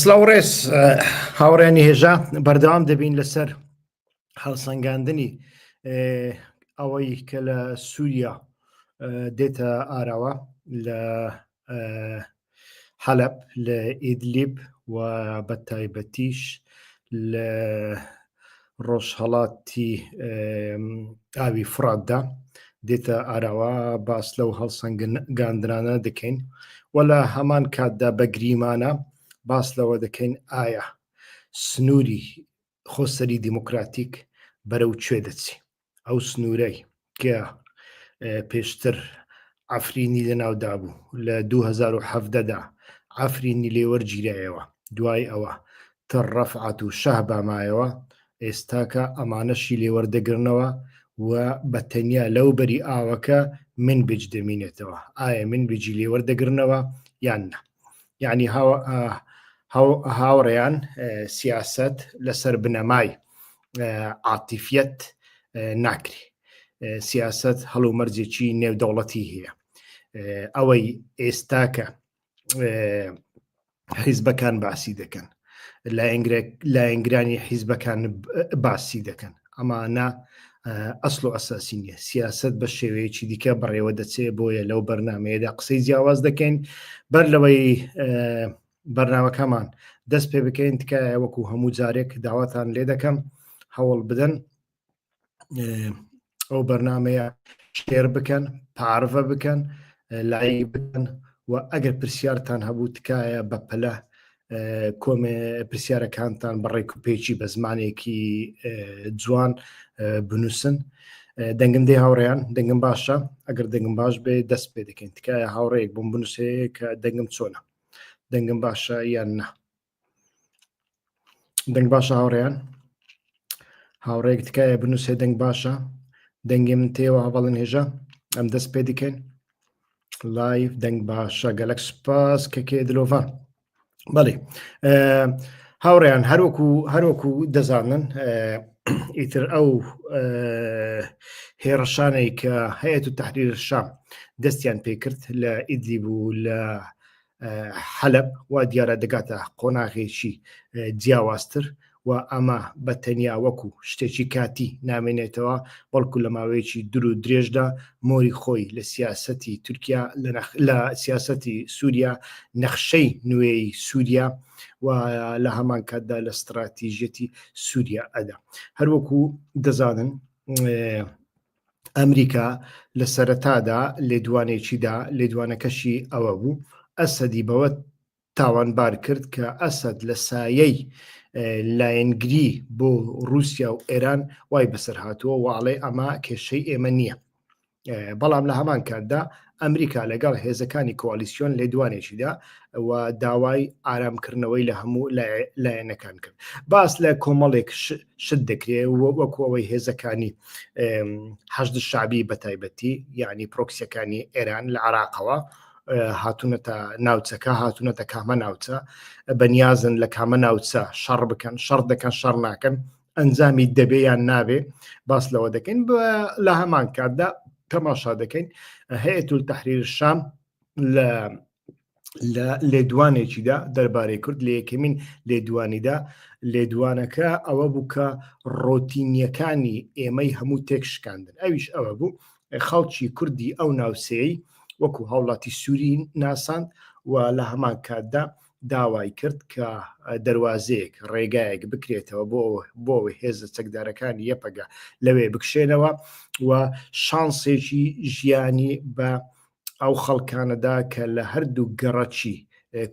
سلاو ڕێز هاوڕێنی هێژا بەردەوام دەبین لەسەر هەڵسەنگاندنی ئەوەی کە لە سووریا دێتە ئاراوە لە حەلب لە ئیدلیب و بە تایبەتیش لە ڕۆژهەڵاتی ئاوی فراتدا دێتە ئاراوە باس لەو هەڵسەنگاندرانە دەکەین و لە هەمان کاتدا بە گریمانە باس لەوە دەکەین ئایا سنووری خۆسەری دیموکراتیک بەرەو کوێ دەچی ئەو سنوورەی کە پێشتر ئەفرینی لەناودا بوو لە 2010دا ئەفرینی لێوەرگیرایەوە دوای ئەوە تە ڕەفعات و شەه بامایەوە ئێستاکە ئەمانەشی لێوەردەگرنەوە و بە تەنیا لەو بەری ئاوەکە من بج دەمینێتەوە ئایا من بجی لێوەردەگرنەوە یان نە یعنی هاوڕێیان سیاست لەسەر بنەمای عاتیفەت ناکری سیاست هەڵو مەرجێکی نێودەوڵەتی هەیە ئەوەی ئێستاکە حیزبەکان باسی دەکەن لایەنگرانی حیزبەکان باسی دەکەن ئەمانە ئەسڵ و ئەساسی نیە سیاست بە شێوەیەکی دیکە بەڕێوە دەچێ بۆیە لەو بەرنمەیەدا قسەی جیاواز دەکەین بەر لەوەی بەرنامەکەمان دەست پێ بکەین تکایە وەکو هەموو جارێک داواتان لێ دەکەم هەوڵ بدەن ئەو بەرنمەیە شێر بکەن پارڤە بکەن لای بکەن و ئەگەر پرسیارتان هەبوو تکایە بە پەلە کۆمێ پرسیارەکانتان بەڕێک و پێچی بە زمانێکی جوان بنووسن دەنگم دێ هاوڕێیان دەنگم باشە ئەگەر دەنگم باش بێ دەست پێ دەکەین تکایە هاوڕێک بم بنووسێ کە دەنگم چۆنە دەنگم باشە یان نا دەنگ باشە هاوڕێیان هاوڕێک تکایە بنووسێ دەنگ باشە دەنگی من تێوە هەواڵن هێژە ئەم دەست پێ دیکەین لایف دەنگ باشە گەلەک سپاس کەکێ دلۆڤان بەڵێ هاوڕێیان هەروەکو هەروەکو دەزانن ئیتر ئەو هێڕشانەی کە هەیەت و تحریر شام دەستیان پێکرد لە ئیدلی بوو لە حەلب وا دیارە دەگاتە قۆناغێکی جیاوازتر و ئەمە بە تەنیا وەکو شتێکی کاتی نامێنێتەوە بەڵکو لە ماوەیەکی در و درێژدا مۆری خۆی لە سیاستی تورکیا لە سیاستی سووریا نەخشەی نوێی سووریا و لە هەمان کاتدا لە ستراتیژەتی سووریا ئەدا هەروەکو دەزانن ئەمریکا لە سەرەتادا لێدوانێکیدا لێدوانەکەشی ئەوە بوو ئەسەدی بەوە تاوانبار کرد کە ئەسد لە سایەی لایەنگری بۆ رووسیا و ئێران وای بەسەر هاتووە واڵێ ئەمە کێشەی ئێمە نییە بەڵام لە هەمان کاتدا ئەمریکا لەگەڵ هێزەکانی کۆالیسیۆن لێدوانێکیدا و داوای ئارامکردنەوەی لە هەموو لایەنەکان کرد باس لە کۆمەڵێک شت دەکرێت وەکوەوەی هێزەکانی حەشد شابی بە تایبەتی یعنی پرۆکسیەکانی ئێران لە عراقەوە هاتوونەتە ناوچەکە هاتوونەتە کامە ناوچە بەنیازن لە کامە ناوچە شەڕ بکەن شەڕ دەکەن شەڕ ناکەن ئەنجامی دەبێ یان نابێ باس لەوە دەکەین لە هەمان کاتدا تەماشا دەکەین هەیە تول تحریر شام لە لە لێدوانێکیدا دەربارەی کورد لە یەکەمین لێدوانیدا لێدوانەکە ئەوە بوو کە ڕۆتینیەکانی ئێمەی هەموو تێک شکاندن ئەویش ئەوە بوو خەڵکی کوردی ئەو ناوسەیە وەکو هاوڵاتی سووری ناساند و لە هەمان کاتدا داوای کرد کە دەروازەیەک ڕێگایەک بکرێتەوە بۆ بۆ هێزە چەکدارەکانی یەپەگە لەوێ بکشێنەوە و شانسێکی ژیانی بە ئەو خەڵکانەدا کە لە هەردوو گەڕەکی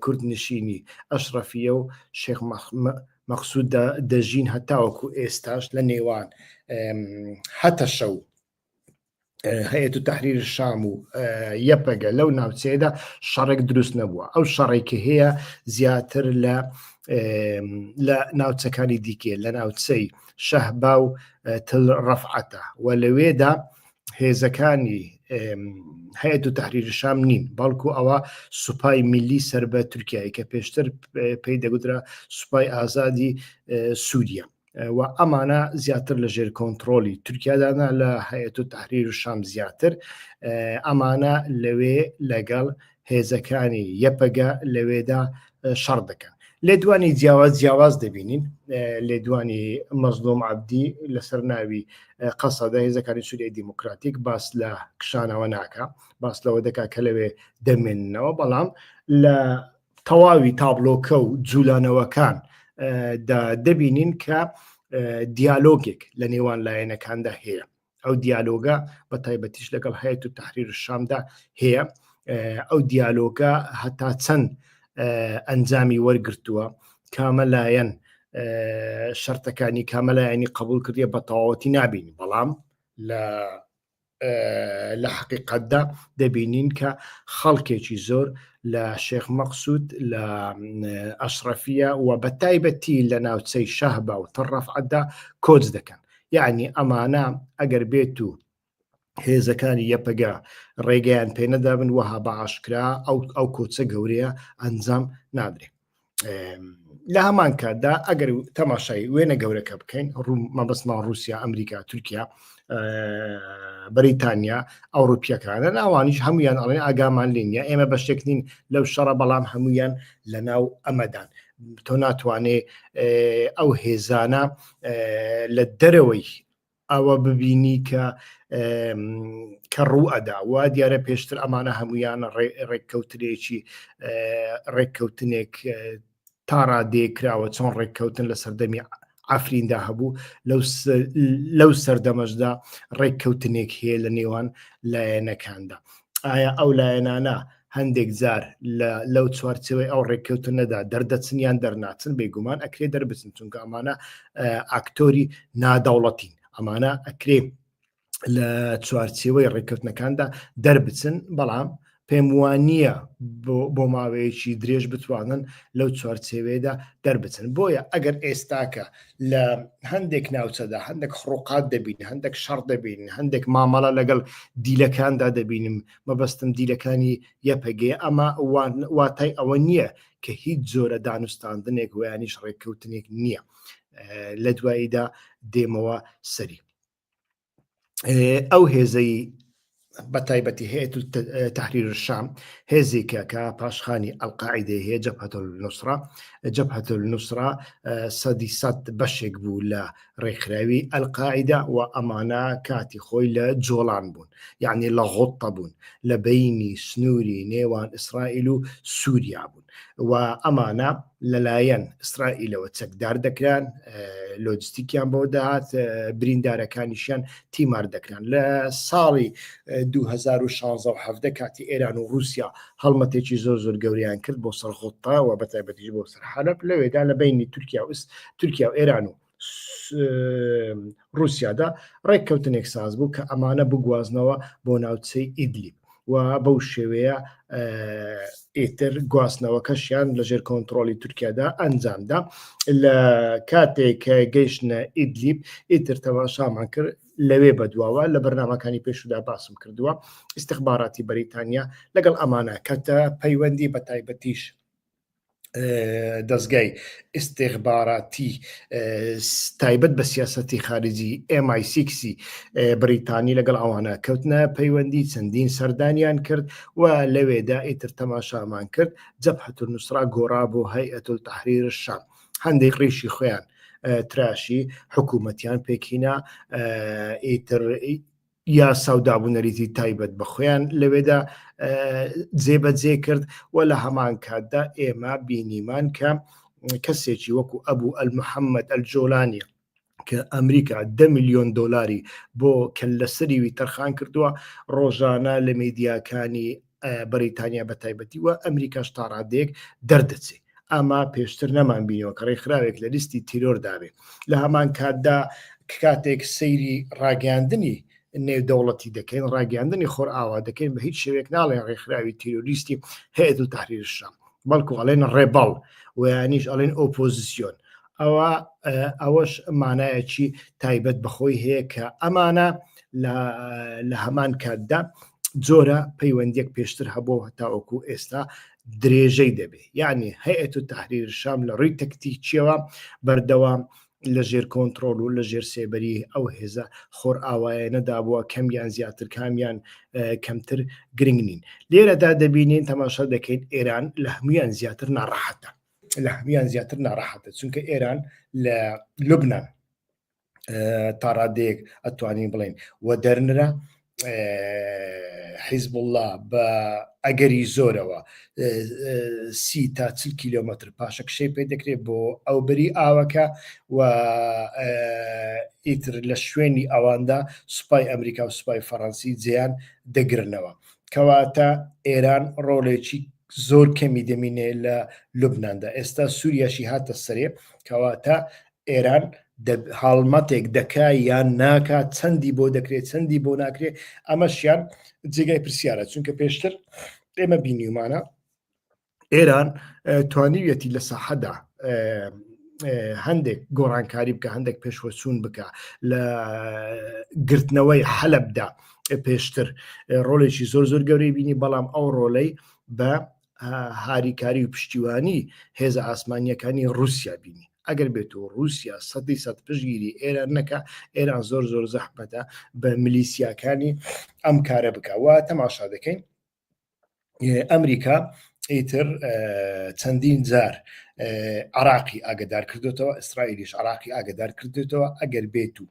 کورد نشینی ئەشرەفیە و شێخ مەخصودا دەژین هەتاوەکو ئێستاش لە نێوان هەتەشە و هەیەت و تحریر شام و یەپەگە لەو ناوچەیەدا شەڕێک دروست نەبووە ئەو شەڕێکی هەیە زیاتر لە لە ناوچەکانی دیکێ لە ناوچەی شەهبا و تل ڕەفعەتە و لەوێدا هێزەکانی هەیەت و تحریر شام نین بەڵکو ئەوە سوپای میلی سەر بە تورکایی کە پێشتر پێی دەگوترا سوپای ئازادی سووریە و ئەمانە زیاتر لە ژێر کۆنتترۆلی تورکیادانا لە هەیەت و تحریر و شام زیاتر ئەمانە لەوێ لەگەڵ هێزەکانی یەپەگە لەوێدا شەڕ دەکەن لێدوانی جیاواز جیاواز دەبینین لێدوانی مەزلۆم عبدی لەسەر ناوی قەسەدە هێزەکانی سووریای دیموکراتیک باس لە کشانەوە ناکە باس لەوە دەکا کە لەوێ دەمێنەوە بەڵام لە تەواوی تابلۆکە و جوولانەوەکان دا دەبینین کە دیالۆگێک لە نێوان لایەنەکاندا هەیە ئەو دیالۆگە بە تایبەتیش لەگەڵ هەیەت و تحریر شامدا هەیە ئەو دیالۆگە هەتا چەند ئەنجامی وەرگتووە کامە لایەن شەرتەکانی کامەلایەنی قبول کردیە بە تەواوەتی نابین بەڵام لە لە حقیقەتدا دەبینین کە خەڵکێکی زۆر لە شێخ مەقسود لە ئەشرەفیە و بە تایبەتی لە ناوچەی شەهبا و تەڕەفعەتدا کۆچ دەکەن یعنی ئەمانە ئەگەر بێت و هێزەکانی یەپەگە ڕێگەیان پێنەدابن وەها بە ئاشکرا ئەو ئەو کۆچە گەورەیە ئەنجام نادرێت لە هەمان کاتدا ئەگەر تەماشای وێنە گەورەکە بکەین ڕوو مەبەستمان رووسیا ئەمریکا تورکیا بەریتانیا ئەوروپیەکانە ناوانیش هەمویان ئەڵێن ئاگامان لینە ئێمە بە شتێکنین لەو شەڕە بەڵام هەمویان لە ناو ئەمەدان تۆ ناتوانێ ئەو هێزانە لە دەرەوەی ئەوە ببینی کە کە ڕوو ئەدا وا دیارە پێشتر ئەمانە هەمویان ڕێککەوترێکی ڕێککەوتنێک تا ڕادێ کراوە چۆن ڕێککەوتن لە سەردەمی ئافریندا هەبوو لەو سەردەمەشدا ڕێککەوتنێک هەیە لە نێوان لایەنەکاندا ئایا ئەو لایەنانە هەندێک جار لەو چوارچەوەی ئەو ڕێککەوتە نەدا دەردەچن یان دەرناچن بێگومان ئەکرێ دەربچن چونکە ئەمانە ئاکتۆری نادەوڵەتین ئەمانە ئەکرێ لە چوارچەوەی ڕێککەوتنەکاندا دەربچن بەڵام پێم وانە بۆ ماوەیەکی درێژ بتوانن لەو چوارچێوێدا دەربچن بۆیە ئەگەر ئێستاکە لە هەندێک ناوچەدا هەندێک خڕوقات دەبین هەندێک شەڕ دەبین هەندێک مامەڵە لەگەڵ دیلەکاندا دەبینم مەبەستم دیلەکانی یەپەگەیە، ئەمە واتای ئەوە نییە کە هیچ جۆرە دانوستاندنێک ویانیش ڕێککەوتنێک نییە لە دواییدا دێمەوە سەری ئەو هێزەی بە تایبەتی هەیە تحریر شام هێزێکە کە پاشخانی ئەلقاعدەی هەیە جەپەتل نووسرا جەپەتل نووسرا سەدی سەد بەشێک بوو لە ڕێکخراوی ئەلقاعیدە و ئەمانە کاتی خۆی لە جۆڵان بوون یعنی لە غوتە بوون لە بینی سنووری نێوان ئیسرائیل و سووریا بوون و ئەمانە لەلایەن ئیسرائیلەوە چەکدار دەکران لۆجستیکیان بۆ دەهات بریندارەکانیشیان تیمار دەکران لە ساڵی 2016 کاتی ئێران و رووسیا هەڵمەتێکی زۆر زۆر گەوریان کرد بۆ سەرخۆتەوە بە تایبەتیش بۆ سەر حالب لەوێدا لە بینی تورکیا وست تورکیا و ئێران و رووسیادا ڕێککەوتنێک ساز بوو کە ئەمانە بگوازنەوە بۆ ناوچەی ئیدلیب و بەو شێوەیە ئیتر گواستنەوەکەشیان لەژێر کۆنتترۆلی تورکیادا ئەنجامدا لە کاتێک گەیشتە ئیدلیب ئیتر تەماشامان کرد لەوێ بەدواوە لە بەرنمەکانی پێشودا باسم کردووە ئیسیخباراتی بەریتانیا لەگەڵ ئەمانە کەتە پەیوەندی بە تایبەتیش دەزگای ئیستیخباراتی تایبەت بە سیاسەتی خارجی MI6ی بریتانی لەگەڵ ئەوانە کەوتنە پەیوەندی چەندین سەردانیان کرد و لەوێدا ئیتر تەماشامان کرد جەبهەت نووسرا گۆڕا بۆ هەیئەتول تحریر شام هەندێک ڕیشی خۆیان تراشی حکوومەتیان پێکینا ئیتر یاسا و دابونەریتی تایبەت بە خۆیان لەوێدا جێبەجێ کرد و لە هەمان کاتدا ئێمە بینیمان کە کەسێکی وەکو ئەبوو ئەلمحەممەد ئەلجۆلانی کە ئەمریکا ده میلیۆن دلاری بۆ کەلەسەریوی تەرخان کردووە ڕۆژانە لە میدیاکانی بەریتانیا بە تایبەتی و ئەمریکاش تا ڕادێک دەردەچێت ئاما پێشتر نەمان بینەوە کە ڕێکخراوێک لە لیستی تیرۆر داوێ لە هەمان کاتدا کاتێک سەیری ڕاگەاندنی نێودەوڵەتی دەکەین ڕاگەاندنی خۆر ئاوا دەکەین بە هیچ شوێک ناڵێ ڕێکخراوی تیرۆریستی هەیە و تحریرشام بەڵکو ئەڵێن ڕێباڵ ویانیش ئەڵێن ئۆپۆزیسیۆن ئەوا ئەوەش مانایەکی تایبەت بەخۆی هەیە کە ئەمانە لە هەمان کاتدا جۆرە پەیوەندێک پێشتر هەبوو هەتاوەکو ئێستا درێژەی دەبێ یعنی هەیەت و تحریر شام لە ڕووی تەکتیکیەوە بەردەوام لە ژێر کۆنتترۆل و لە ژێر سێبەری ئەو هێزە خۆر ئاوایە نەدابووە کەمیان زیاتر کامیان کەمتر گرنگ نین لێرەدا دەبینین تەماشا دەکەین ئێران لە هەمویان زیاتر ناڕەحەتە لە هەموان زیاتر ناڕەحەتە چونکە ئێران لە لبنان تا ڕادەیەک ئەتوانین بڵێن و دەرنرا حیزب الله بە ئەگەری زۆرەوە سی تا چل کیلومتر پاشە کشەی پێ دەکرێت بۆ ئەو بەری ئاوەکە و ئیتر لە شوێنی ئەواندا سوپای ئەمریکا و سوپای فەڕەنسی جیان دەگرنەوە کەواتە ئێران ڕۆڵێکی زۆر کەمی دەمینێ لە لوبنااندا ئێستا سووریاشی هاتە سەرێ کەواتە ئێران هاڵمەتێک دەکا یان ناکات چەندی بۆ دەکرێت چەندی بۆ ناکرێت ئەمەشیان جێگای پرسیارە چونکە پێشتر ئێمە بینیمانە ئێران توانیویەتی لە ساحەدا هەندێک گۆڕانکاری بکە هەندێک پێشوەچوون بکە لە گرتنەوەی حەلبدا پێشتر ڕۆلێکی زۆر زۆر گەورەی بینی بەڵام ئەو ڕۆلەی بە هاریکاری و پشتیوانی هێزە ئاسمانیەکانی رووسیا بینی ئەگەر بێت و رووسیا سەدی سەد پشگیری ئێران نەکە ئێران زۆر زۆر زەحمەتە بە ملیسیاکانی ئەم کارە بکە وا تەماشا دەکەین ئەمریکا ئیتر چەندین جار عراقی ئاگدار کردوێتەوە ئیسرائیلیش عراقی ئاگدار کردوێتەوە ئەگەر بێت و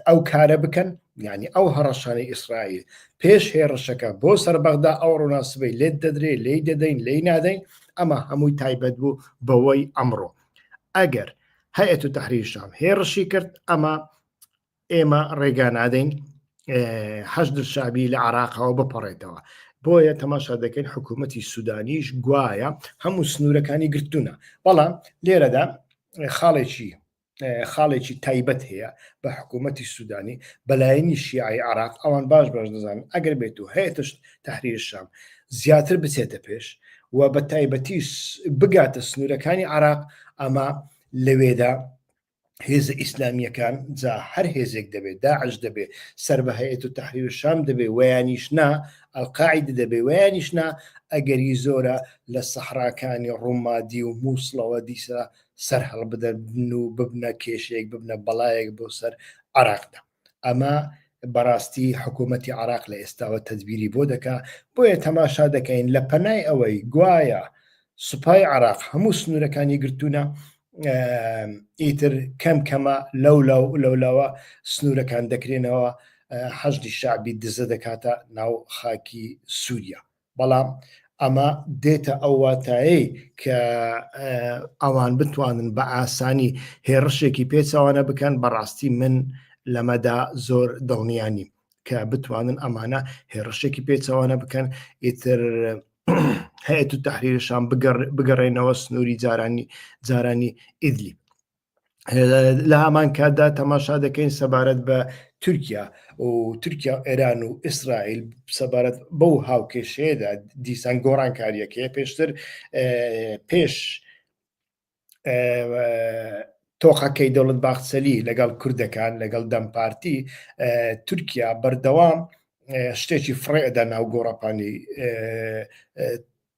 ئەو کارە بکەن ینی ئەو هەڕەشانەی ئیسرائیل پێش هێڕشەکە بۆ سەر بەغدا ئەو ڕووناسبەی لێت دەدرێ لی دەدەین لی نادەین ئەمە هەمووی تایبەت بوو بەوەی ئەمڕۆ ئەگەر هەیەت و تحریشام هێڕشی کرد ئەمە ئێمە ڕێگا نادەین حەشدر شابی لە عراقەوە بپەڕێتەوە بۆیە تەماشا دەکەین حکوومەتی سوودانیش گوایە هەموو سنوورەکانی گرتوونە بەڵام لێرەدا خاڵێکی خاڵێکی تایبەت هەیە بە حکوومەتی سوودانی بەلایەنی شیعی عراق ئەوان باش باش دەزان ئەگەر بێت و هەیەتشت تحریر شام زیاتر بچێتە پێش و بە تایبەتیش بگاتە سنوورەکانی عراق ئەمە لەوێدا هێزە ئیسلامیەکان جا هەر هێزێک دەبێت داعش دەبێت سەر بە هەیەت و تحریر و شام دەبێت ویانیشنا ئەلقاعد دەبێت ویانیشنا ئەگەری زۆرە لە سەحراکانی ڕوومادی و مووسڵەوە دیسە سەر هەڵبدەن و ببنە کێشەیەک ببنە بەڵایەک بۆ سەر عراقدا ئەمە بەڕاستی حکوومەتی عراق لە ئێستاوە تەدبیری بۆ دەکا بۆیە تەماشا دەکەین لە پەنای ئەوەی گوایە سوپای عراق هەموو سنوورەکانی گرتوونە ئیتر کەم کەمە لەو لاو لەولاوە سنوورەکان دەکرێنەوە حەشدی شعبی دزە دەکاتە ناو خاکی سووریا بەڵام ئەمە دێتە ئەو واتایەی کە ئەوان بتوانن بە ئاسانی هێڕشێکی پێچوانە بکەن بەڕاستی من لەمەدا زۆر دڵنیانی کە بتوانن ئەمانە هێڕشێکی پێچوانە بکەن ئیتر هەیە و تحریرشان بگەڕێنەوە سنووری جارانی جارانی ئیدلی لە هامان کاتدا تەماشا دەکەین سەبارەت بە تورکیا و تورکیا و ئێران و ئیسرائیل سەبارەت بەو هاوکێشەیەدا دیسان گۆڕانکاریەکەی پێشتر پێش تۆقەکەی دەوڵەت باخسەلی لەگەڵ کوردەکان لەگەڵ دەمپارتی تورکیا بەردەوام شتێکی فڕێدا ناو گۆڕەپانی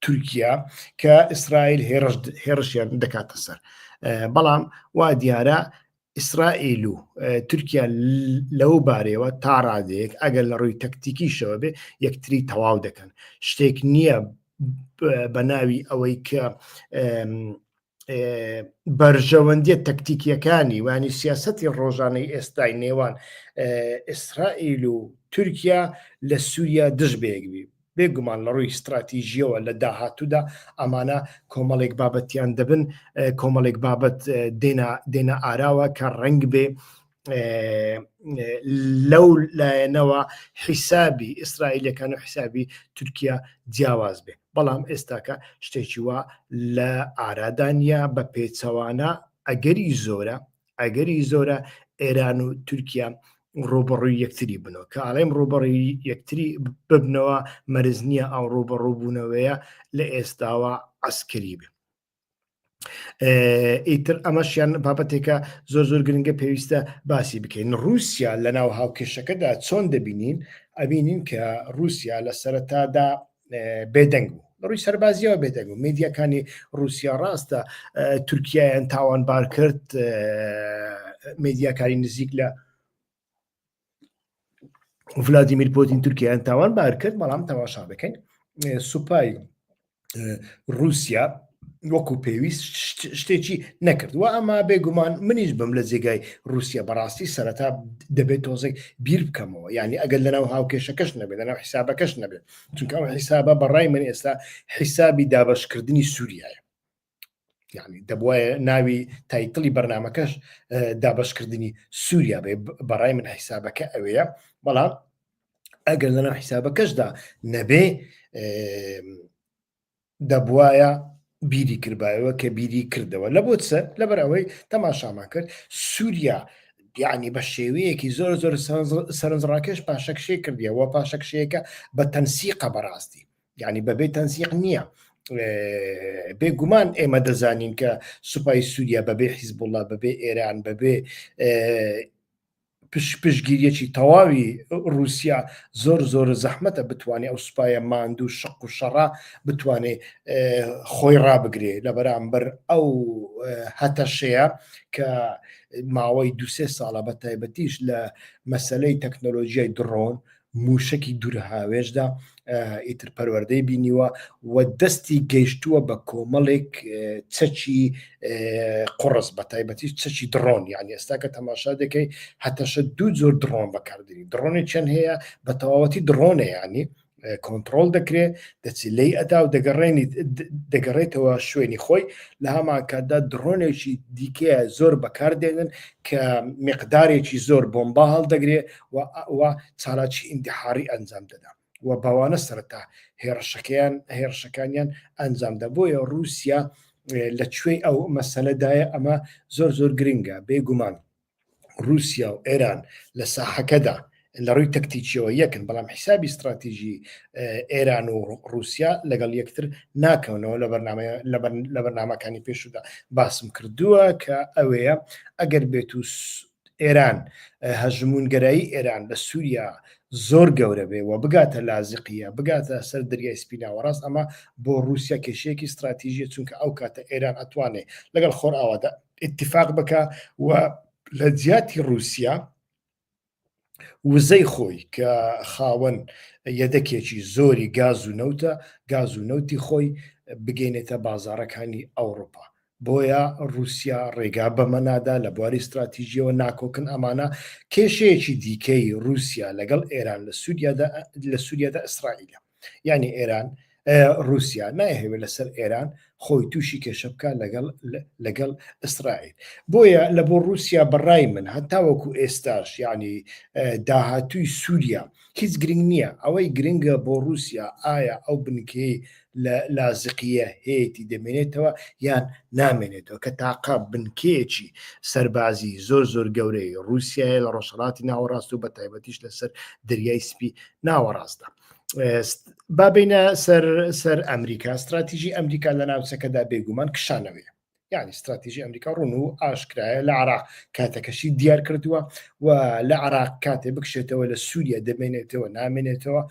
تورکیا کە ئیسرائیل هێڕشیان دەکاتە سەر بەڵام وا دیارە ئیسرائیل و تورکیا لەو بارەوە تا ڕادەیەک ئەگەر لە ڕووی تەکتیکیشەوە بێ یەکتری تەواو دەکەن شتێک نییە بە ناوی ئەوەی کە بەرژەوەندیە تەکتیکیەکانی وانی سیاستی ڕۆژانەی ئێستای نێوان ئیسرائیل و تورکیا لە سووریا دژ بێگبی بێگومان لە ڕووی استراتیژیەوە لە داهاتوودا ئەمانە کۆمەڵێک بابەتیان دەبن کۆمەڵێک بابەت دێنا ئاراوە کە ڕنگ بێ لەو لایەنەوە حیسابی ئیسرائیلەکان و حیسابی تورکیا جیاواز بێ بەڵام ئێستاکە شتێکی وا لە ئارادانیا بە پێچەوانە ئەگەری زۆرە ئەگەری زۆرە ئێران و تورکیا ڕوبڕووی یەکتری بنەوە کە ئاڵێم ڕوبڕی یەکتری ببنەوە مەرز نییە ئەو ڕوبڕووبوونەوەیە لە ئێستاوە ئەسکری بێ ئیتر ئەمەشیان بابەتێکە زۆر زۆر گرنگە پێویستە باسی بکەین رووسیا لە ناو هاوکێشەکەدا چۆن دەبینین ئەبینین کە رووسیا لە سەرەتادا بێدەنگ بوو ڕووی سەربازیەوە بێدەنگ و میدیەکانی رووسیا ڕاستە تورکایان تاوانبار کرد میدیاکاری نزیک لە ڤلادیمیر پۆتین تورکیایان تاوان بار کرد بەڵام تەواشا دەکەین سوپای رووسیا وەکو پێویست شتێکی نەکردوە ئەما بێگومان منیش بم لە جێگای رووسیا بەڕاستی سەرەتا دەبێت تۆزێک بیر بکەمەوە یعنی ئەگەر لەناو هاوکێشەکەش نەبێت لەناو حیسابەکەش نەبێت چونکە ئەو حیسابە بەڕای من ئێستا حیسابی دابشکردنی سووریایە یعنی دەبواە ناوی تایتڵی بەرنمەکەش دابشکردنی سووریا بێ بەڕای من حیسابەکە ئەوەیە بەڵام ئەگەر لەناو حیسابەکەشدا نەبێ دەبواە بیری کردبایەوە کە بیری کردەوە لە بۆ سەر لەبەر ئەوەی تەماشامان کرد سووریا یعنی بە شێوەیەکی زۆر زۆر سەرنجڕاکێش پاشەکشێ کردیەوە پاشەکشەیەەکە بە تەنسیقە بەڕاستی یعنی بەبێ تەنسیق نییە بێگومان ئێمە دەزانین کە سوپای سووریا بەبێ حیزبوڵە بەبێ ئێران بەبێ پشپشگیریەکی تەواوی رووسیا زۆر زۆر زەحمەتە بتوانێت ئەو سوپایە ماندوو شق و شەڕا بتوانێت خۆی ڕابگرێ لە بەرامبەر ئەو هەتەشەیە کە ماوەی دوسێ ساڵە بە تایبەتیش لە مەسلەی تەکنۆلۆژیای دڕۆن مووشەکی دوورە هاوێژدا ئیتر پەروەردەی بینیوە و دەستی گەیشتووە بە کۆمەڵێک چەکی قڕس بە تایبەتی چەکی دڕۆن یان ئێستا کە تەماشا دەکەی هەتەشە دوو زۆر دڕۆن بەکاردێنی دڕۆنی چەند هەیە بە تەواوەتی دڕۆنە ینی کۆنتترۆل دەکرێت دەچی لی ئەدا و دەگەڕێنی دەگەڕێتەوە شوێنی خۆی لە هەماکاتدا دڕۆنێکی دیکەیە زۆر بەکاردێنن کە مقدارێکی زۆر بۆمبا هەڵدەگرێت و ئەوا چالاکی ئینتحاری ئەنجام دەدا و باوانە سەرەتا هێڕشەکەیان هێڕشەکانیان ئەنجامدا بۆیە رووسیا لە کوێی ئەو مەسەلەدایە ئەمە زۆر زۆر گرنگە بێگومان رووسیا و ئێران لە ساحەکەدا لە ڕووی تەکتیکیەوە یەکن بەڵام حیسابی استراتیژی ئێران و رووسیا لەگەڵ یەکتر ناکەونەوە لە بەرنامە لە بەرنمەکانی پێشودا باسم کردووە کە ئەوەیە ئەگەر بێت و ئێران هەژموونگەرایی ئێران لە سووریا زۆر گەورە بێ و بگاتە لازقیە بگاتە سەر دەریای سپی ناوەڕاست ئەمە بۆ رووسیا کێشەیەکی ستراتیژیە چونکە ئەو کاتە ئێران ئەتوانێ لەگەڵ خۆر ئاوادا اتفاق بکە و لە جیاتی رووسیا وزەی خۆی کە خاوەن یەدەکێکی زۆری گاز و نەوتە گاز و نەوتی خۆی بگەینێتە بازارەکانی ئەوروپا بۆیە رووسیا ڕێگا بەمەنادا لە بواری استراتیژیەوە ناکۆکن ئەمانە کێشەیەکی دیکەی رووسیا لەگەڵ ئێران لە سووریادا لە سووریادا ئیسرائیلە یعنی ئێران رووسیا نایهوێت لەسەر ئێران خۆی تووشی کێشە بکە لەگەڵ لەگەڵ ئیسرائیل بۆیە لە بۆ رووسیا بەڕای من هەتاوەکو ئێستاش یعنی داهاتووی سووریا هیچ گرنگ نییە ئەوەی گرنگە بۆ رووسیا ئایا ئەو بنکەی لە لازقیە هەیەی دەمێنێتەوە یان نامێنێتەوە کە تاقا بنکەیەکی سەربازی زۆر زۆر گەورەی رووسایە لە ڕۆژهڵاتی ناوەڕاست و بە تایبەتیش لەسەر دەریای سپی ناوەڕاستدا بابینە سەر سەر ئەمریکا استراتیژی ئەمریکا لە ناوچەکەدا بێگومان کشانەوەی یعنی استراتیژی ئەمریکا ڕون و ئاشکرایە لە عراق کاتەکەشی دیار کردووە و لە عراق کاتێ بکشێتەوە لە سووریا دەمێنێتەوە نامێنێتەوە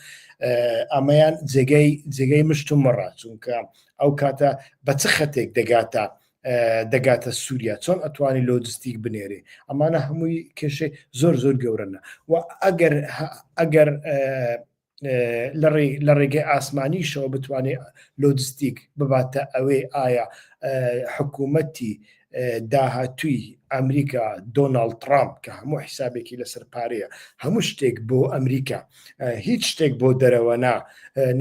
ئەمەیان جێگەی جێگەی مشت و مەڕ چونکە ئەو کاتە بە چ خەتێک دەگاتە دەگاتە سووریا چۆن ئەتوانی لۆجستیک بنێرێ ئەمانە هەمووی کێشەی زۆر زۆر گەورەنە و ئەگەر ئەگەر لە ڕێگەی ئاسمانیشەوە بتوانێت لۆجستیک بباتە ئەوێ ئایا حکوومەتی داهاتووی ئەمریکا دۆناالد ترامپ کە هەموو حیسابێکی لەسەر پارەیە هەموو شتێک بۆ ئەمریکا هیچ شتێک بۆ دەرەوە نا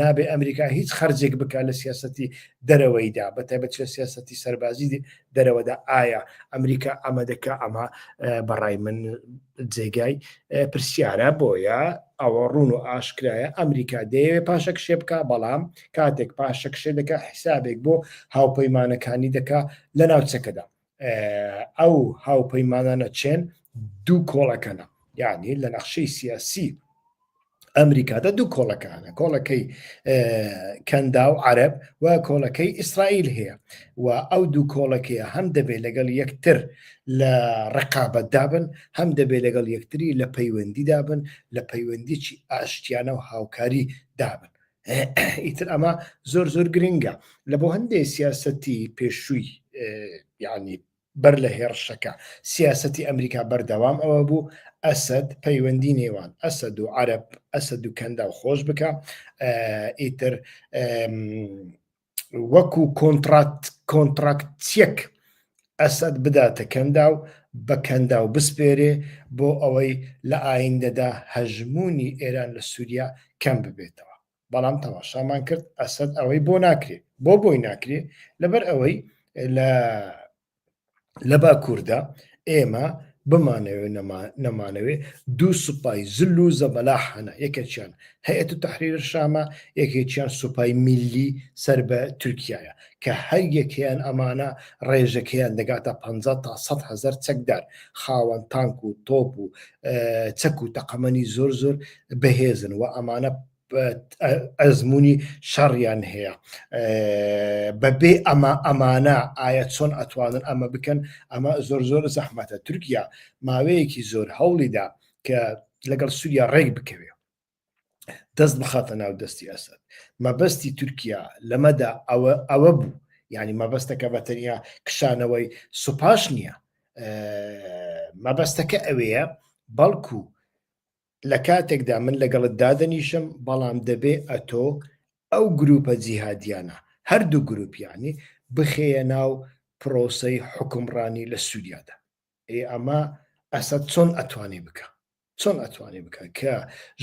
نابێ ئەمریکا هیچ خەرجێک بکە لە سیاستی دەرەوەیدا بە تایبەت چێ سیاستی سەربازی دەرەوەدا ئایا ئەمریکا ئەمە دەکە ئەمە بەڕای من جێگای پرسیارە بۆیە ئەوە ڕون و ئاشکرایە ئەمریکا دەیەوێ پاشەک شێ بکە بەڵام کاتێک پاشەک شێ دەکە حیسابێک بۆ هاوپەیمانەکانی دەکا لە ناوچەکەدا ئەو هاوپەیمانانە چێن دوو کۆڵەکەنە یعنی لە نەخشەی سیاسی ئەمریکادا دوو کۆڵەکانە کۆڵەکەی کەندا و عرب و کۆڵەکەی ئیسرائیل هەیە و ئەو دوو کۆڵەکەیە هەم دەبێت لەگەڵ یەکتر لە ڕقابەت دابن هەم دەبێت لەگەڵ یەکتری لە پەیوەندی دابن لە پەیوەندیی ئاشتیانە و هاوکاری دابن ئیتر ئەمە زۆر زۆر گرنگە لە بۆ هەندێک سیاستی پێشووی یعنی بەر لە هێڕشەکە سیاستی ئەمریکا بەردەوام ئەوە بوو ئەسد پەیوەندی نێوان ئەسد و عرب ئەسد و کەندا و خۆش بکە ئیتر وەکو کۆنترات کۆنتراکتچێک ئەسەد بداتە کەندا و بە کەندا و بسپێرێ بۆ ئەوەی لە ئایندەدا هەژمونی ئێران لە سووریا کەم ببێتەوە بەڵام تەماشامان کرد ئەسەد ئەوەی بۆ ناکرێت بۆ بۆی ناکرێت لەبەر ئەوەی لە لە باکووردا ئێمە بمانەوێ نەمانەوێ دوو سوپای زل و زەبەلاح هەنا یەکێکیان هەیەت و تحریر شامە یەکێکیان سوپای میلی سەر بە تورکایە کە هەر یەکەیان ئەمانە ڕێژەکەیان دەگاتە 50 تا 100 هزار چەکدار خاوەن تانک و تۆپ و چەک و تەقەمەنی زۆر زۆر بەهێزن و ئەمانە ئەزمونی شەڕیان هەیە بەبێ ئەمە ئەمانە ئایا چۆن ئەتوانن ئەمە بکەن ئەمە زۆر زۆر زەحمەتە تورکیا ماوەیەکی زۆر هەوڵیدا کە لەگەڵ سووریا ڕێک بکەوێ دەست بخاتە ناو دەستی ئەسد مەبەستی تورکیا لەمەدا ئەوە ئەوە بوو ینی مەبەستەکە بەتەنیا کشانەوەی سوپاش نییە مەبەستەکە ئەوەیە بەڵکو لە کاتێکدا من لەگەڵت دادەنیشم بەڵام دەبێ ئەتۆ ئەو گروپە جیهادیانە هەردوو گروپیانی بخەیە ناو پرۆسەی حکومڕانی لە سووریادا ئێ ئەمە ئەسە چۆن ئەتوانی بکە چۆن ئەتوانی بکە کە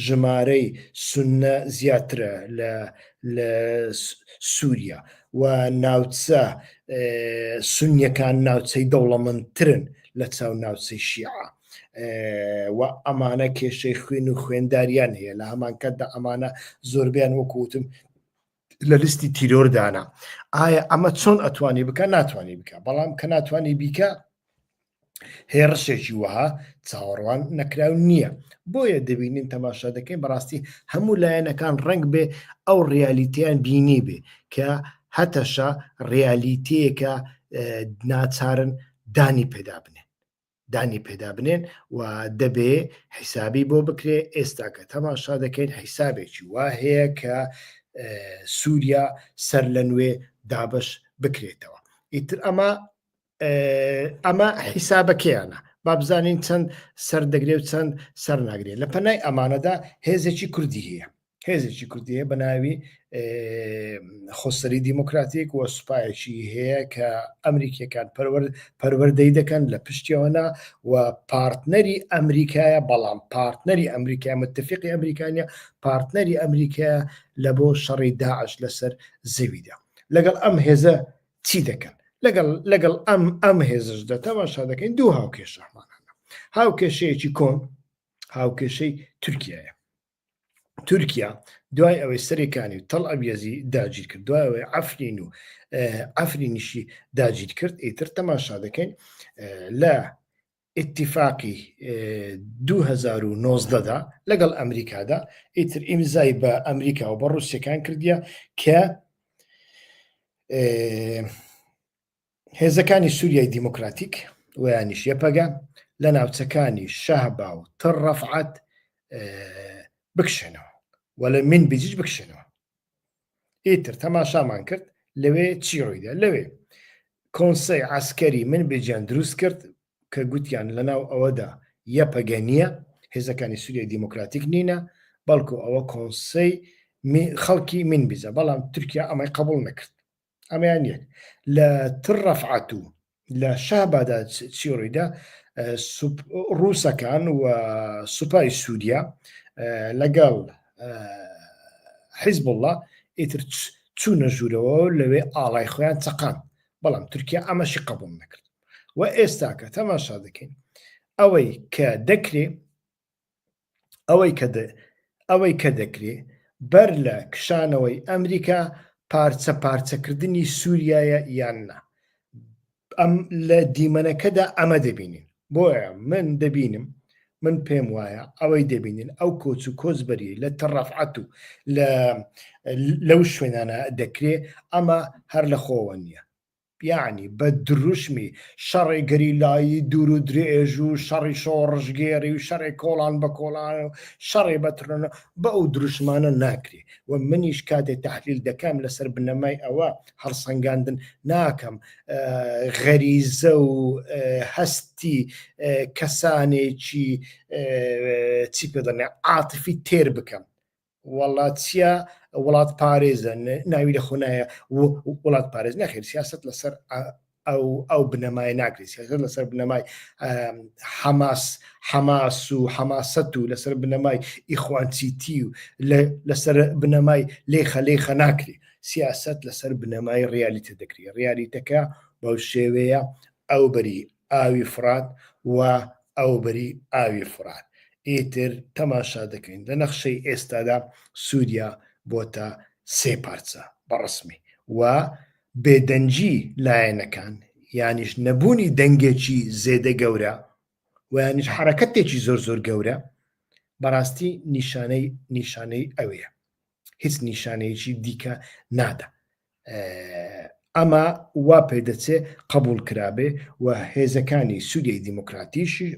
ژمارەی سنە زیاترە لە لە سووریا و ناوچە سنیەکان ناوچەی دەوڵەمەندترن لە چاو ناوچەی شیعە و ئەمانە کێشەی خوێن و خوێنداریان هەیە لە هەمان کاتدا ئەمانە زۆربیان وەکوتم لە لیستی تیرۆردانە ئایا ئەمە چۆن ئەتوانی بکە ناتوانانی بکە بەڵام کە ناتوانانی بیکە هێڕشێکی وەها چاوەڕوان نەکراو نییە بۆیە دەبینین تەماشا دەکەین بەڕاستی هەموو لایەنەکان ڕنگ بێ ئەو ڕیالیتیان بینی بێ کە هەتەشە ڕیالیتەیەکە ناچارن دانی پێدا بنێ دانی پێدا بنێن و دەبێ حیسابی بۆ بکرێ ئێستا کە تەماشا دەکەین حیسابێکی وا هەیە کە سووریا سەر لە نوێ دابش بکرێتەوە ئیتر ئەمە ئەمە حیسابەکەیانە بابزانین چەند سەردەگرێ و چەند سەرناگرێت لە پەنای ئەمانەدا هێزێکی کوردی هەیە هێزێکی کوردیە بە ناوی خۆسەری دیموکراتیک و سوپایەکی هەیە کە ئەمریکیەکان پەروەردەی دەکەن لە پشتیەوەنا و پارتنەری ئەمریکایە بەڵام پارتنەری ئەمریکای متفقی ئەمریکانە پارتنەری ئەمریکا لە بۆ شەڕی داعش لەسەر زەویدا لەگەڵ ئەم هێزە چی دەکەن لەگەڵ لەگەڵ ئەم ئەم هێزش دەتەماشا دەکەین دوو هاوکێشەمانە هاوکێشەیەکی کۆن هاوکێشەی تورکایە تورکیا دوای ئەوەی سەرێکانی و تەڵ ئەبیێزی داگیر کرد دوایەوەی ئەفرین و ئەفرینیشی داگیر کرد ئیتر تەماشا دەکەین لە ئتیفاقی 2009دا لەگەڵ ئەمریکادا ئیتر ئیمزای بە ئەمریکا و بە ڕوسەکان کردیە کە هێزەکانی سوریای دیموکراتیک و یانیش یەپەگە لە ناوچەکانی شەهبا و تڕ ڕەفعەت بکشێنەوە و لە من بجیج بکشێنەوە ئیتر تەماشامان کرد لەوێ چی ڕوویدا لەوێ کۆنسەی عسکەری من بێجان دروست کرد کە گوتیان لەناو ئەوەدا یەپەگە نییە هێزەکانی سووریای دیموکراتیک نینە بەڵکو ئەوە کۆنسەی خەڵکی من بزە بەڵام تورکیا ئەمەی قبول نەکرد ئەمەیان یەک لە تڕەفعات و لە شەهبادا چی ڕیدا ڕووسەکان و سوپای سووریا لەگەڵ حیزب الله ئیتر چوونە ژوورەوە لەوێ ئاڵای خۆیان چقان بەڵام تورکیا ئەمەشی قبول نەکرد و ئێستاکە تەماشا دەکەین ئەوەی کە دەکرێ ئەوەی کە دەکرێ بەر لە کشانەوەی ئەمریکا پارچە پارچەکردنی سوریایە یان نا ئەم لە دیمەنەکەدا ئەمە دەبینین بۆیە من دەبینم من پێم وایە ئەوەی دەبینین ئەو کۆچ و کۆچبەری لە تەڕەفعات و لە لەو شوێنانە دەکرێ ئەمە هەر لە خۆوە نییە یەعنی بە دروشمی شەڕێ گەریلایی دوور و درێژ و شەڕی شۆڕشگێڕی و شەڕێ کۆڵان بە کۆڵان و شەڕێ بە ترۆنە بە ئەو دروشمانە ناکرێ و منیش کاتێ تحلیل دەکەم لەسەر بنەمای ئەوە هەڵسەنگاندن ناکەم غەریزە و هەستی کەسانێکی چی پێ دەڵێ عاتفی تێر بکەم وەڵا چیا وڵات پارێزە ناوی لە خۆنایە وڵات پارێز نەخێر سیاست لەسەر ئەو ئەو بنەمای ناکرێت سیاست لەسەر بنەمای حەماس حەماس و حەماست و لەسەر بنەمای ئیخوانسیتی و لەسەر بنەمای لێ خەلێ خە ناکرێت سیاست لەسەر بنەمای ڕیالیتە دەکرێت ڕیالیتەکە بەو شێوەیە ئەو بەری ئاوی فرات و ئەوبەری ئاوی فرات ئیتر تەماشا دەکەین لە نەخشەی ئێستادا سوریا بۆتە سێ پارچە بەڕەسمی و بێدەنگی لایەنەکان یانیش نەبوونی دەنگێکی زێدە گەورە ویانیش حەرەکەتێکی زۆر زۆر گەورە بەڕاستی نیشانەی نیشانەی ئەوەیە هیچ نیشانەیەکی دیکە نادا ئەمە وا پێدەچێ قبول کرابێ و هێزەکانی سوودی دیموکراتیشی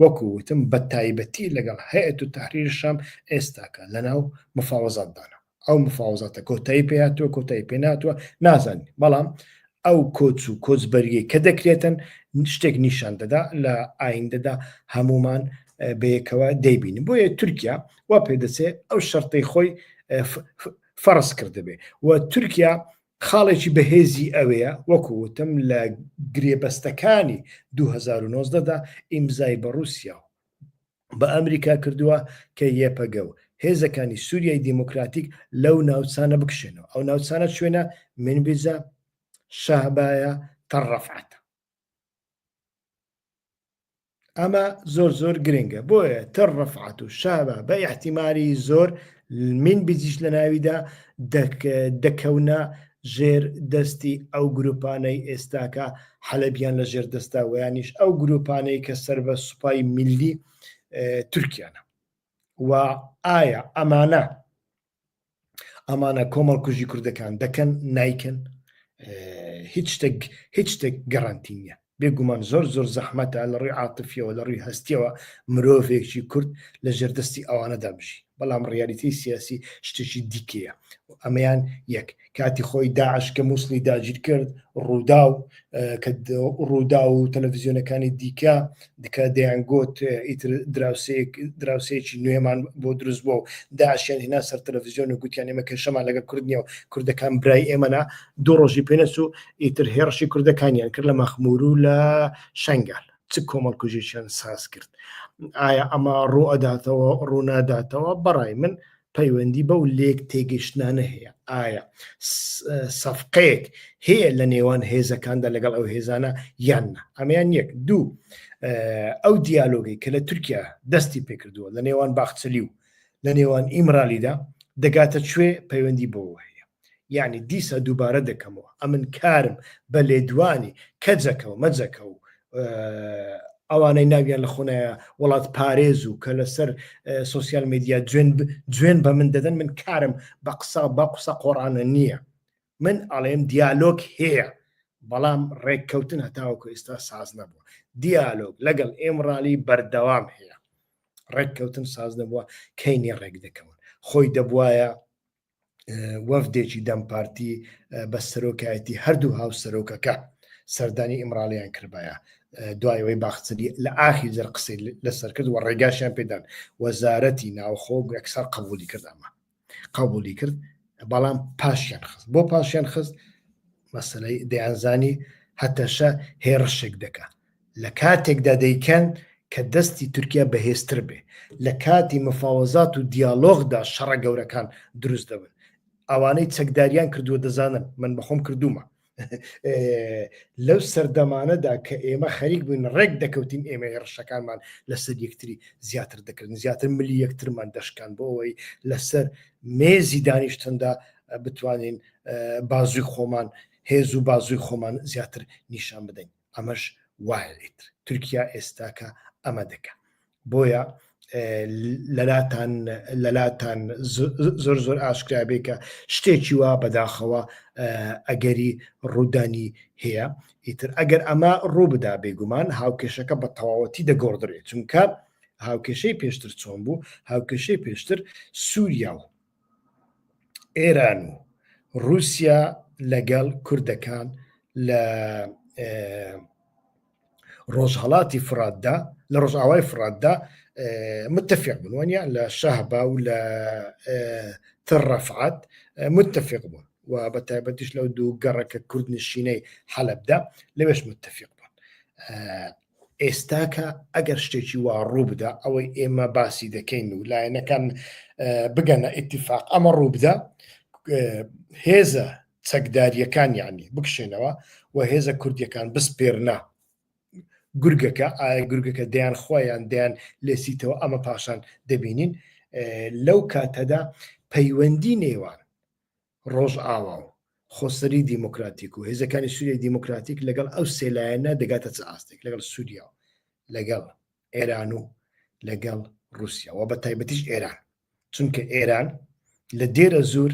وەکو وتم بە تایبەتی لەگەڵ هەیەت و تحریرشام ئێستاکە لەناو مفاوەزاتدانە ئەو مفاوەزاتە کۆتایی پێاتوە کۆتایی پێ ناتوە نازانین بەڵام ئەو کۆچ و کۆچبەریەی کە دەکرێتن شتێک نیشان دەدا لە ئایندەدا هەمومان بەیەکەوە دەیبین بۆیە تورکیا وا پێدەچێ ئەو شەرتەی خۆی فەرز کردبێ و تورکیا خاڵێکی بەهێزی ئەوەیە وەکو وتم لە گرێبەستەکانی 2009دا ئیمزای بە رووسیا و بە ئەمریکا کردووە کە یەپەگە و هێزەکانی سووریای دیموکراتیک لەو ناوچانە بکشێنەوە ئەو ناوچانە شوێنە منبیزە شەهبایە تەڕەفعات ئەمە زۆر زۆر گرنگە بۆیە تر ڕفعات و شابە بە احتیماری زۆر من بزیش لە ناویدا دەکەونە ژێر دەستی ئەو گروپانەی ئێستاکە حەلبیان لە ژێر دەستا ویانیش ئەو گروپانەی کە سەر بە سوپای ملی تورکیانە و ئایا ئەمانە ئەمانە کۆمەڵ کوژی کوردەکان دەکەن نیکن هیچ شتێک هیچ شتێک گەڕانتی نیە بێگومان زۆر زۆر زەحمەتە لە ڕووی عاتفیەوە لە ڕووی هەستیەوە مرۆڤێکی کورد لە ژێردەستی ئەوانەدا بژی بەڵام ڕیالیتی سیاسی شتێکی دیکەیە ئەمەیان یەک کاتی خۆی داعش کە مووسڵی داگیر کرد ڕووداو کە ڕوودا و تەلەڤزیۆنەکانی دیکە دکە دەیانگوت ئیتر دراوسێک دراوسێکی نوێمان بۆ دروست بۆ و داعشیان هینا سەر تەلەڤزیۆن و گوتیان ئێمە کێشەمان لەگە کوردنیە و کوردەکان برای ئێمەنا دوو ڕۆژی پێنەس و ئیتر هێڕشی کوردەکانیان کرد لە مەخمور و لە شنگال چ کۆمەڵکوژێکیان ساز کرد ئایا ئەمە ڕوو ئەداتەوە ڕووناداتەوە بەڕای من پەیوەندی بەو لێک تێگەشتنانە هەیە ئایا سەفقەیەک هەیە لە نێوان هێزەکاندا لەگەڵ ئەو هێزانە یان ئەمیان یەک دوو ئەو دیالۆگی کە لە تورکیا دەستی پێکردووە لە نێوان باخچەلی و لە نێوان ئیمرالیدا دەگاتە کوێ پەیوەندی بۆ هەیە یعنی دیسە دووبارە دەکەمەوە ئەمن کارم بە لێدوانی کەجەکە و مەجەکە و ئەوانەی ناویان لە خۆنایە وڵات پارێز و کە لەسەر سوسیال میدیا جوێن جوێن بە من دەدەن من کارم بە قسە بە قسە قۆڕانە نییە من ئەڵێم دیالۆگ هەیە بەڵام ڕێککەوتن هەتاوەکو ئێستا ساز نەبووە دیالۆگ لەگەڵ ئێمڕالی بەردەوام هەیە ڕێککەوتن ساز نەبووە کەینی ڕێک دەکەون خۆی دەبواە وەفدێکی دەم پارتی بە سەرۆکایەتی هەردوو هاو سەرۆکەکە سەردانی ئیمراڵیان کردبایە دوایەوەی باخچلی لە ئاخی جەر قسەی لەسەر کرد و ڕێگاشیان پێدان وەزارەتی ناوخۆ گوێکسەر قبولی کردامە قبولی کرد بەڵام پاشیان خست بۆ پاشیان خست مەسلەی دەیانزانی هەتەشە هێڕشێک دەکات لە کاتێکدا دەیکەن کە دەستی تورکیا بەهێزتر بێ لە کاتی مفاوەزات و دیالۆغدا شەڕە گەورەکان دروست دەبن ئەوانەی چەکداریان کردووە دەزانن من بەخۆم کردومە لەو سەردەمانەدا کە ئێمە خەریک بووین ڕێک دەکەوتین ئێمە هێڕشەکانمان لەسەر یەکتری زیاتر دەکردن زیاتر ملی یەکترمان دەشکان بۆ ئەوەی لەسەر مێزی دانیشتندا بتوانین بازووی خۆمان هێز و بازووی خۆمان زیاتر نیشان بدەین ئەمەش وایە ئیتر تورکیا ئێستاکە ئەمە دەکە بۆیە لەلاتان لەلاتان زۆر زۆر ئاشکرابێ کە شتێکی وا بەداخەوە ئەگەری ڕوودانی هەیە ئیتر ئەگەر ئەمە ڕوو بدا بێگومان هاوکێشەکە بە تەواوەتی دەگۆڕدرێت چونکە هاوکێشەی پێشتر چۆن بوو هاوکێشەی پێشتر سووریا و ئێران و رووسیا لەگەڵ کوردەکان لە ڕۆژهڵاتی فراتدا لە ڕۆژئاوای فراتدا متفق بوون وەنیا لە شەهبا و لە تڕەفعات متفق بوون و بە تایبەتیش لەو دوو گەڕەکە کوردنشینەی حەلبدا لەوێش متفق بوون ئێستاکە ئەگەر شتێکی وا ڕووبدا ئەوەی ئێمە باسی دەکەین و لایەنەکان بگەنە ئیتیفاق ئەمە ڕووبدا هێزە چەکداریەکان یعنی بکشێنەوە و هێزە کوردیەکان بسپێرنا گورگەکە ئایا گورگەکە دەیان خۆیان دەیان لێسیتەوە ئەمە پاشان دەبینین لەو کاتەدا پەیوەندی نێوان ڕۆژئاوا و خۆسەری دیموکراتیک و هێزەکانی سووریای دیموکراتیک لەگەڵ ئەو سێ لایەنە دەگاتە چ ئاستێک لەگەڵ سووریا و لەگەڵ ئێران و لەگەڵ ڕووسیا و بەتایبەتیش ئێران چونکە ئێران لە دێرە زوور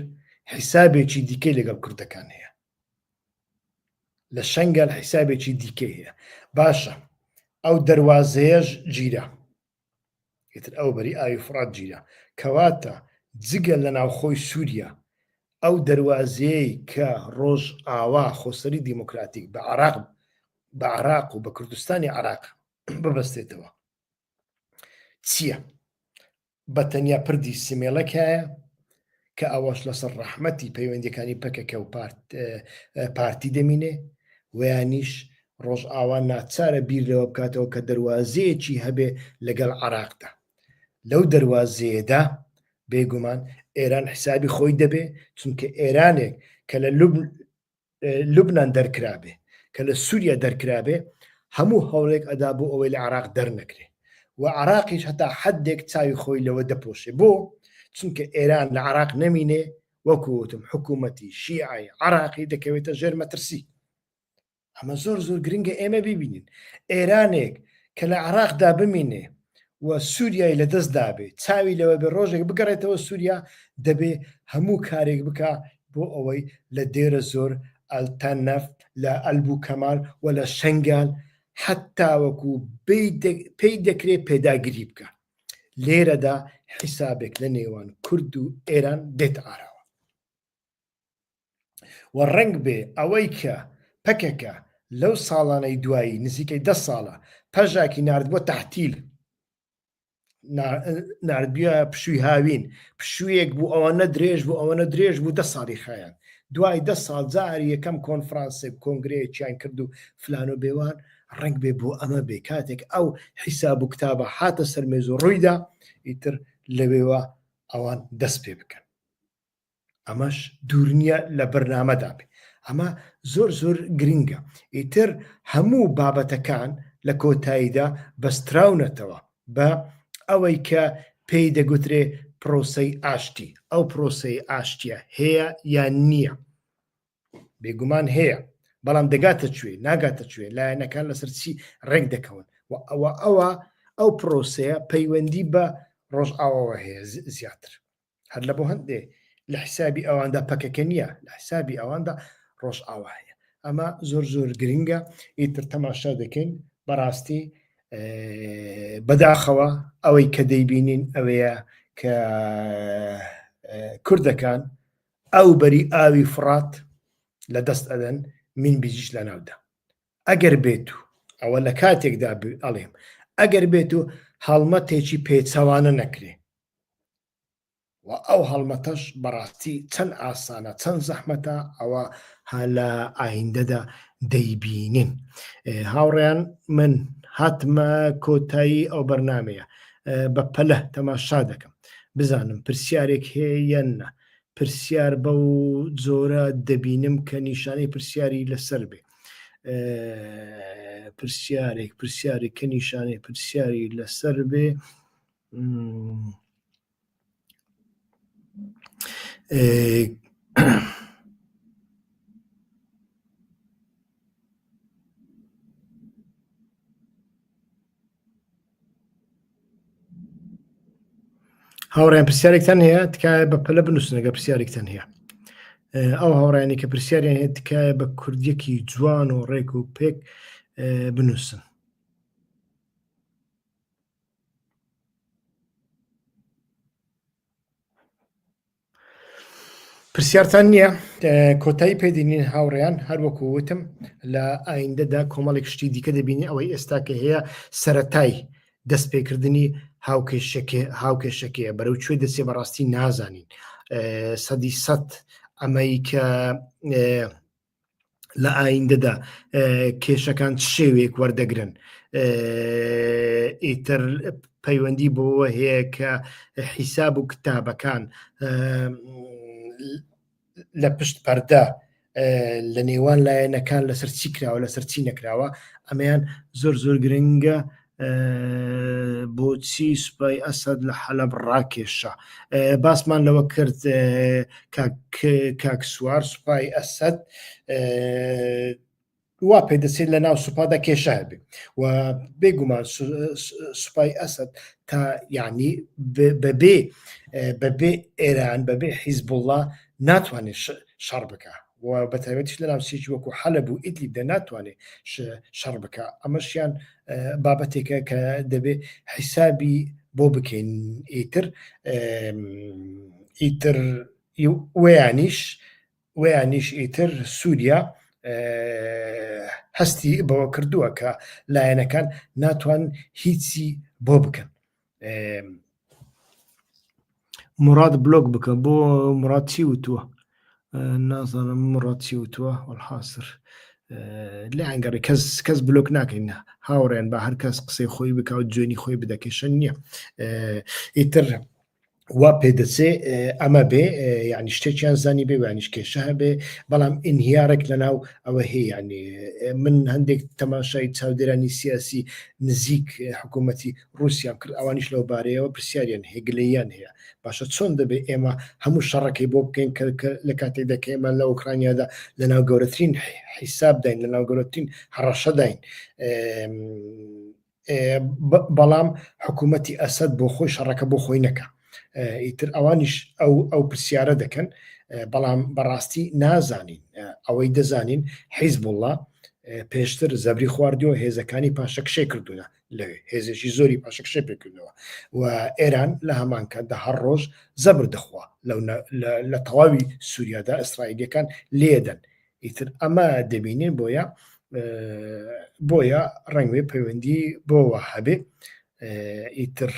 حیسابێکی دیکەی لەگەڵ کوردەکان هەیە لە شەنگەل حیسابێکی دیکەی هەیە باشە ئەو دەواازەیەش گیرە ئیتر ئەو بەری ئاوی فوڕات گیرا. کەواتە جگە لە ناوخۆی سووریا، ئەو دەروازەیەی کە ڕۆژاوا خۆسەری دیموکراتیک بە عێراق بە عێراق و بە کوردستانی عێراق ببەستێتەوە چییە؟ بە تەنیا پردی سمێڵێک هەیە کە ئەوەش لەسەر ڕەحمەتی پەیوەندیەکانی پەکەکە و پارتی دەمینێ ویانیش ڕۆژئاوا ناچارە بیر لەوە بکاتەوە کە دەواازەیەکی هەبێ لەگەڵ عراقدا لەو دەواازەیەدا بێگومان ئێران حسابی خۆی دەبێ چونکە ئێرانێک کە لە لوبنان دەرکرابێ کە لە سووریا دەرکرابێ هەموو هەوڵێک ئەدا بۆ ئەوەی لە عراق دەرنەکرێ و عراقیش هەتا حدێک چاوی خۆی لەوە دەپۆشێ بۆ چونکە ئێران لە عراق نەمینێ وەکوتم حکوومەتی شیعی عراقی دەکەوێتە ژێر مەترسی ئەمە زۆر زۆر گرنگە ئێمە ببینین ئێرانێک کە لە عراقدا بمینێ و سوریای لە دەست دابێ چاوی لەوە بێ ڕۆژێک بگەڕێتەوە سووریا دەبێ هەموو کارێک بکە بۆ ئەوەی لە دێرە زۆر ئەلتان نەفت لە ئەلبوو کەمال و لە شنگال حتاوەکو پێی دەکرێت پێداگری بکە لێرەدا حیسابێک لە نێوان کورد و ئێران دێت ئاراوە و ڕەنگ بێ ئەوەی کە پەکەکە لەو ساڵانەی دوایی نزیکەی دە ساڵە پەژاکی نردبووە تحتیل نردبیە پشووی هاوین پشوویەک بوو ئەوە نە درێژ بوو ئەوە نە درێژ بوو دە ساڵی خایەن دوای دە ساڵ جاری یەکەم کۆنفرانسێک کۆنگرەیەکیان کرد و فلان و بێوان ڕنگ بێ بۆ ئەمە بێ کاتێک ئەو حیساب و کتابە حاتە سەرمێز و ڕوویدا ئیتر لەوێوە ئەوان دەست پێ بکەن ئەمەش دوورنیە لە بەرنامەدا بێ ئەمە زۆر زۆر گرنگە ئیتر هەموو بابەتەکان لە کۆتاییدا بەستراونەتەوە بە ئەوەی کە پێی دەگوترێ پرۆسەی ئاشتی ئەو پرۆسی ئاشتیە هەیە یان نییە بێگومان هەیە بەڵام دەگاتە کوێ ناگاتە کوێ لایەنەکان لەسەر چی ڕێک دەکەون و ئەوە ئەوە ئەو پرۆسەیە پەیوەندی بە ڕۆژئاوەوە هەیە زیاتر هەر لە بۆ هەندێ لە حسابی ئەواندا پەکەکە نییە لە حسابی ئەواندا ڕۆژ ئاوا هەیە ئەمە زۆر زۆر گرنگە ئیتر تەماشا دەکەین بەڕاستی بەداخەوە ئەوەی کە دەیبینین ئەوەیە کە کوردەکان ئەو بەری ئاوی فڕات لە دەست ئەدەن من بیجیش لە ناودا ئەگەر بێت و ئەوە لە کاتێکدا ئەڵێم ئەگەر بێت و هەڵمەتێکی پێچەوانە نەکرێ و ئەو هەڵمەتەش بەڕاستی چەند ئاسانە چەند زەحمەتە ئەوە ها لە ئایندەدا دەیبینین هاوڕێیان من هاتمە کۆتایی ئەو بەرنمەیە بە پەلە تەماشا دەکەم بزانم پرسیارێک هەیەەنە پرسیار بەو زۆرە دەبینم کە نیشانەی پرسیاری لەسەر بێ پرسیارێک پرسیارێک کە نیشانەی پرسیاری لەسەر بێ هاوڕێن پرسیارێکتان هەیە تکایە بە پەلە بنووسنەگە پرسیارێکتان هەیە ئەو هاوڕانی کە پرسیاریان هەیە تکایە بە کوردیەکی جوان و ڕێک و پێک بنووسن پرسیارتان نییە کۆتایی پێدینین هاوڕێیان هەروەکو وتم لە ئایندەدا کۆمەڵێک شتی دیکە دەبینی ئەوەی ئێستا کە هەیە سەتای دەستپێکردنی هاوکێشەکەیە بەرەو کوێ دەچێ بەڕاستی نازانین سەدی سەد ئەمەی کە لە ئایندەدا کێشەکان شێوێک وەردەگرن ئیتر پەیوەندی بۆەوە هەیە کە حیساب و کتابەکان لە پشت پەردە لە نێوان لایەنەکان لەسەر چی کراوە لەسەر چی نەکراوە ئەمەیان زۆر زۆر گرنگە بۆچی سوپای ئەسەد لە حەلەب ڕاکێشا باسمان لەوە کرد کاکسوار سوپای ئەسەد وا پێ دەچێت لە ناو سوپادا کێشای بێ و بێگومان سوپای ئەسد تا یعنی بەبێ بەبێ ئێران بەبێ حیزبوڵە ناتوانێت شەڕ بکە و بە تایبەتیش لە ناوچەیەکی وەکو حەلەب و ئیدلیب دا ناتوانێ شەڕ بکا، ئەمەشیان بابەتێکە کە دەبێ حیسابی بۆ بکەین ئیتر ئیتر وەیانیش وەیانیش ئیتر سووریا هەستی بەوە کردووە کە لایەنەکان ناتوان هیچی بۆ بکەن. مراد بلۆک بکە بۆ مراد چی وتووە نازانم مراد چی وتووە وەحاصر لە ئەنگەڕی کەس کەس بلۆک ناکەین هاوڕێن بە هەر کەس قسەی خۆی بکە و جوێنی خۆی بدەکەشن نییە ئیتر وا پێ دەچێ ئەمە بێ یعنی شتێکیان زانی بێ وانیش کێشە هەبێ بەڵام ئینهیارێک لە ناو ئەوە هەیەیانێ من هەندێک تەماشای چاودێرانی سیاسی نزیک حکوومەتی رووسیان کرد ئەوانیش لەو بارەیەوە پرسیاریان هێگلیان هەیە باشە چۆن دەبێت ئێمە هەموو شەڕەکەی بۆ بکەین کە لە کاتێک دەکەێمە لە ئۆکرانیادا لە ناو گەورەترین حیسابداین لە ناو گەورەترین هەڕەشەداین بەڵام حکوومەتی ئەسد بۆ خۆی شەڕەکە بۆ خۆی نەکە ئیتر ئەوانیش ئەو ئەو پرسیارە دەکەن بەڵام بەڕاستی نازانین ئەوەی دەزانین حیز بڵە پێشتر زەبری خواردیەوە هێزەکانی پاشەکشێ کردوونە لەوێ هێزێکی زۆری پاشەکشێ پێکردنەوە و ئێران لە هەمانکە دە هەر ڕۆژ زەبر دەخوا لە تەواوی سووریادا ئەسرائیلەکان لێدەن ئیتر ئەمە دەبینین بۆیە بۆیە ڕەنگێ پەیوەندی بۆەوە هەبێ ئیتر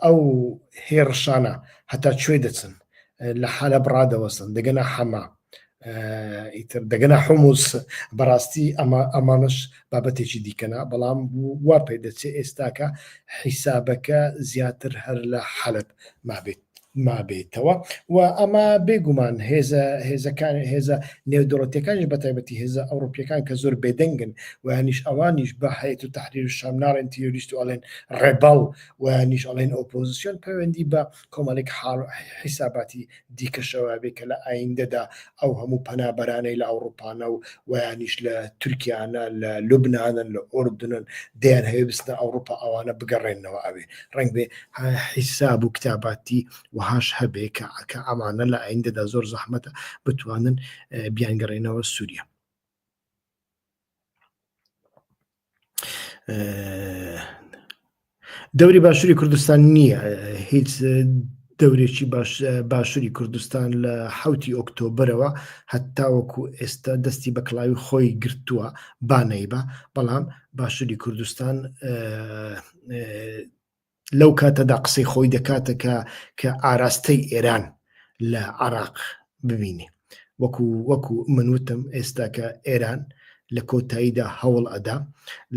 ئەو هێڕشانە هەتا کوێ دەچن لە حالە بڕادەوەسن دەگەنا حەما ئیتر دەگەنا حموس بەڕاستی ئەمە ئەمانش بابەتێکی دیکەنا بەڵام وا پێ دەچێت ئێستاکە حیسابەکە زیاتر هەر لە حەلب مابێت مابێتەوە و ئەمە بێگومان هێزە هێزەکان هێزە نێودوڵەتەکانش بە تایبەتی هێزە ئەوروپیەکان کە زۆر بێدەنگن و هەنیش ئەوانیش بە هەیەت و تحریر و شامناڵێن تیۆریست و ئەڵێن ڕێبەڵ و نیش ئەڵێن ئۆپۆزیسیۆن پەیوەندی بە کۆمەڵێک حاڵ حیساباتی دیکەشەوە بێ کە لە ئایندەدا ئەو هەموو پەنابەرانەی لە ئەوڕوپانە و وەیانیش لە تورکیانە لە لوبنانن لە ئۆردنن دەیان هەوێ بستنە ئەوڕوپا ئەوانە بگەڕێنەوە ئەوێ ڕنگ بێ حیساب و کتاباتی وهاش هەبێ کە ئەکە ئەمانە لە ئایندەدا زۆر زەحمەتە بتوانن بیانگەڕێنەوە سووریا. دەوری باشووری کوردستان نییە هیچ دەورێکی باشووری کوردستان لە حوتی ئۆکتۆبرەوە هەتاوەکو ئێستا دەستی بە کلاوی خۆی گرتووە بانەی بە بەڵام باشووری کوردستان لەو کاتەدا قسەی خۆی دەکاتە کە کە ئاراستەی ئێران لە عراق ببینێ وەکو وەکو من وتم ئێستا کە ئێران لە کۆتاییدا هەوڵ ئەدا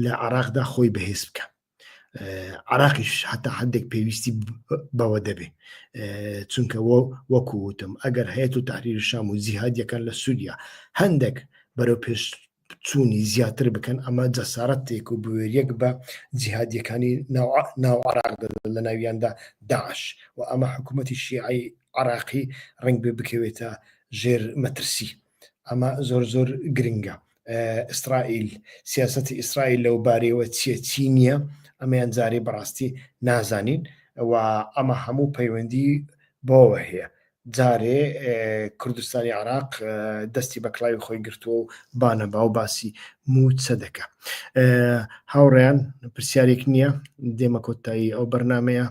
لە عراقدا خۆی بەهێز بکە عراقیش هەتا هەندێک پێویستی بەوە دەبێ چونکە وە وەکو وتم ئەگەر هەیە و تحریر شام و زیهادیەکان لە سووریا هەندێک بەرەو پێش چوونی زیاتر بکەن ئەمە جەسارەت تێک و بوێریەک بە جیهادیەکانی ناو عراق لە ناویاندا داعش و ئەمە حکوومەتی شیعی عراقی ڕنگ بێ بکەوێتە ژێر مەترسی ئەمە زۆر زۆر گرنگە ئیسرائیل سیاستی ئیسرائیل لەو بارەوە چیە چی نییە ئەمەیان جارێ بەڕاستی نازانین و ئەمە هەموو پەیوەندی بۆوە هەیە جارێ کوردستانی عراق دەستی بە کڵاوی خۆی گرتووە و بانە باو باسی مووچە دەکە هاوڕیان پرسیارێک نییە دێمە کۆتایی ئەو بەرنمەیە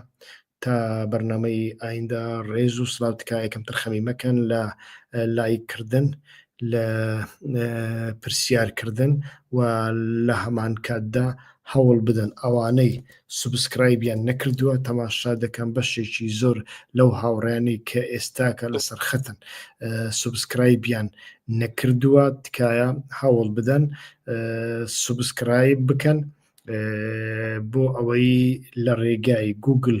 تا بەرنمەی ئایندا ڕێز و سلااو تکایەکەم ترخەمی مەکەن لە لایکردن لە پرسیارکردن و لە هەمان کاتدا هەوڵ بدەن ئەوانەی سوبسکرایبیان نەکردووە تەماشا دەکەم بەشێکی زۆر لەو هاوڕیانی کە ئێستاکە لەسەر خەتن سوبسکرایبیان نەکردووە تکایە هەوڵ بدەن سوبسکرایب بکەن بۆ ئەوەی لە ڕێگای گوگل